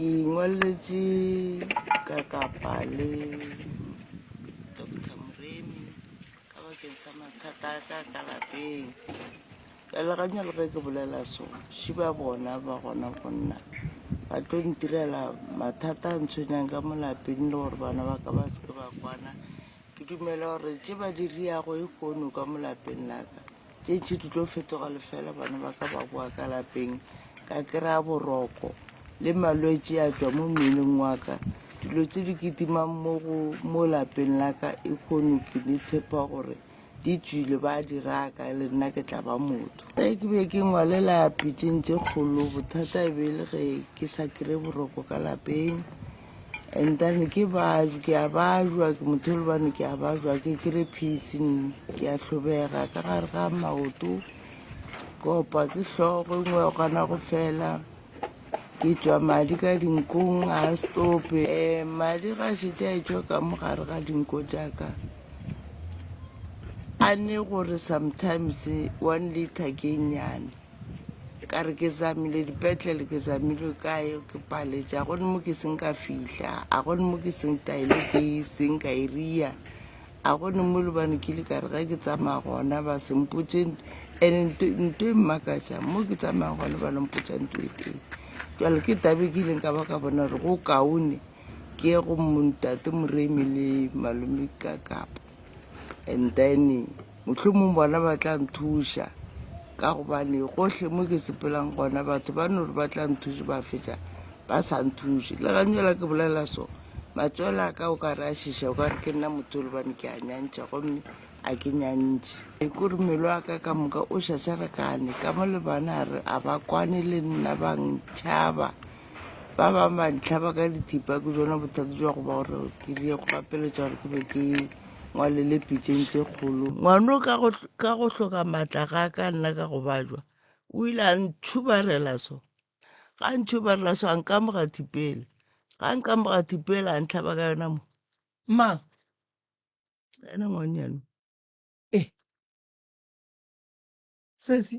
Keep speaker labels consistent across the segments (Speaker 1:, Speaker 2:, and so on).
Speaker 1: Ke ingwalletše ka kapa le Doctor Moremi ka bakeng sa mathata a ka ka lapeng. Ka leganya le ge ke bolela so, še ba bona ba gona go nna ba tlo ntirela mathata a ntshwenyang ka molapeng le gore bana ba ka ba seke ba kwana. Ke dumela gore tše ba di riago e kgono ka molapeng la ka. Tšetše di tlo fetoga lefela bana ba ka ba boa ka lapeng ka kry-a boroko le malwetse a tšwa mo mmeleng wa ka dilo tse di kitimang mo lapeng la ka e kgone ke di tshepa gore di tswile ba di raka le nna ke tla ba motho e ke be ke ngwalela pitseng tse kgolo bothata e be e le ge ke sa kry-e boroko ka lapeng and then ke baju ke a bajwa ke motho e le bane ke a bajwa ke kry peace nne ke a tlhobega ka gare ga maoto kopa ke tlhogo e nngwe ya kgona go fela ke tšwa madi ka dinkong a stope um madi ga šetše a etswa ka mo gare ga dinko jaaka a ne gore sometimes one liter ke nnyane ka re ke zamile dipetlele ke zamile kae ke paletša a gone mo ke seng ka fihla a gone mo ke seng taile ke seng ka e ria a gone mo lebane ke le ka re ga ke tsamaya gona ba sempotse and nto e mmakatša mo ke tsamaya gone ba lompotsa nto e teng jale ke tabe ke ileng ka ba ka bona gore go kaone ke ye go montate moremi le malome ka kapa and then mohlomong bona ba tla nthuša ka gobane gohle mo ke sepelang gona batho ba no re ba tla nthuše ba fetša ba sa nthuše le ganyela ke bolela so matswela ka o ka re a šiša o ka re ke nna motho le bane ke a nyantšha gomme a ke nyantšhe e ko re melo a ka ka moka o šašarekane ka mo le bana a ba kwane le nna ba ntšhaba ba ba mantlha ba ka dithipa ke jona bothata jwa go ba gore ke di go gapeletša gore ke be ke ngwalele pitšeng tse kgolo ngwano ka go hl- ka go hloka maatla ga ka nna ka go bajwa o ile a ntšhubarela so ga ntšhubarela so a nkamoga thipele ga nkamoga thipele a ntlhaba ka yona mo ma ena ngwanyane e
Speaker 2: sesi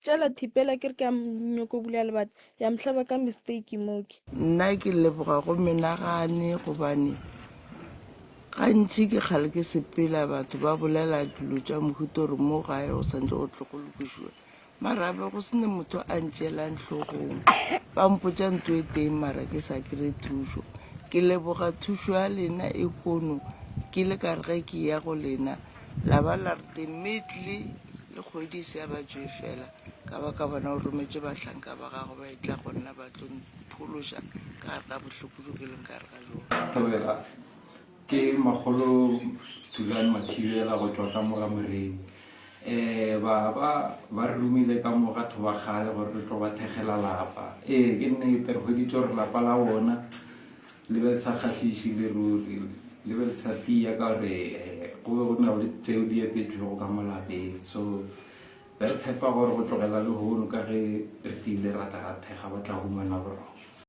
Speaker 3: tšela thipela ke re ke a nyoko bula lebata ya mohlaba ka mistake moke nna ke leboga
Speaker 1: go menagane gobane gantši ke kgale ke sepela batho ba bolela dilo tša mohuto gore mo gae go santse go tle go lokošiwa marabe go sene motho a ntšelang tlhogong ba mpotša nto e teng mara ke sa kry thušo ke leboga thušo ya lena e kono ke le ka rege ke ya go lena La ba la re temetli le kgwedi e se ya ba tšwe fela, ka ba ka bona o rometše bahlanka ba gago ba etla go nna ba tlo mphološa ka gare ga bohloko bjo ke leng ka gare ga bjona. Thobega, Ke
Speaker 4: makgolo Thulane Mathibela go tšwa ka mo ga Moremi. Ee, ba ba ba re romile ka mo ga Thobakgale gore re tlo ba thekgela lapa. Ee, ke nnete re hweditše gore lapa la bona Le be le sa kgahliše le ruri, le be le sa tiya ka gore go be go na le tšeo di epetšwego ka mo lapeng. So be re tshepa gore go tlogela lehono ka ge re tiile ra tla ra thekga ba tla humana boroko.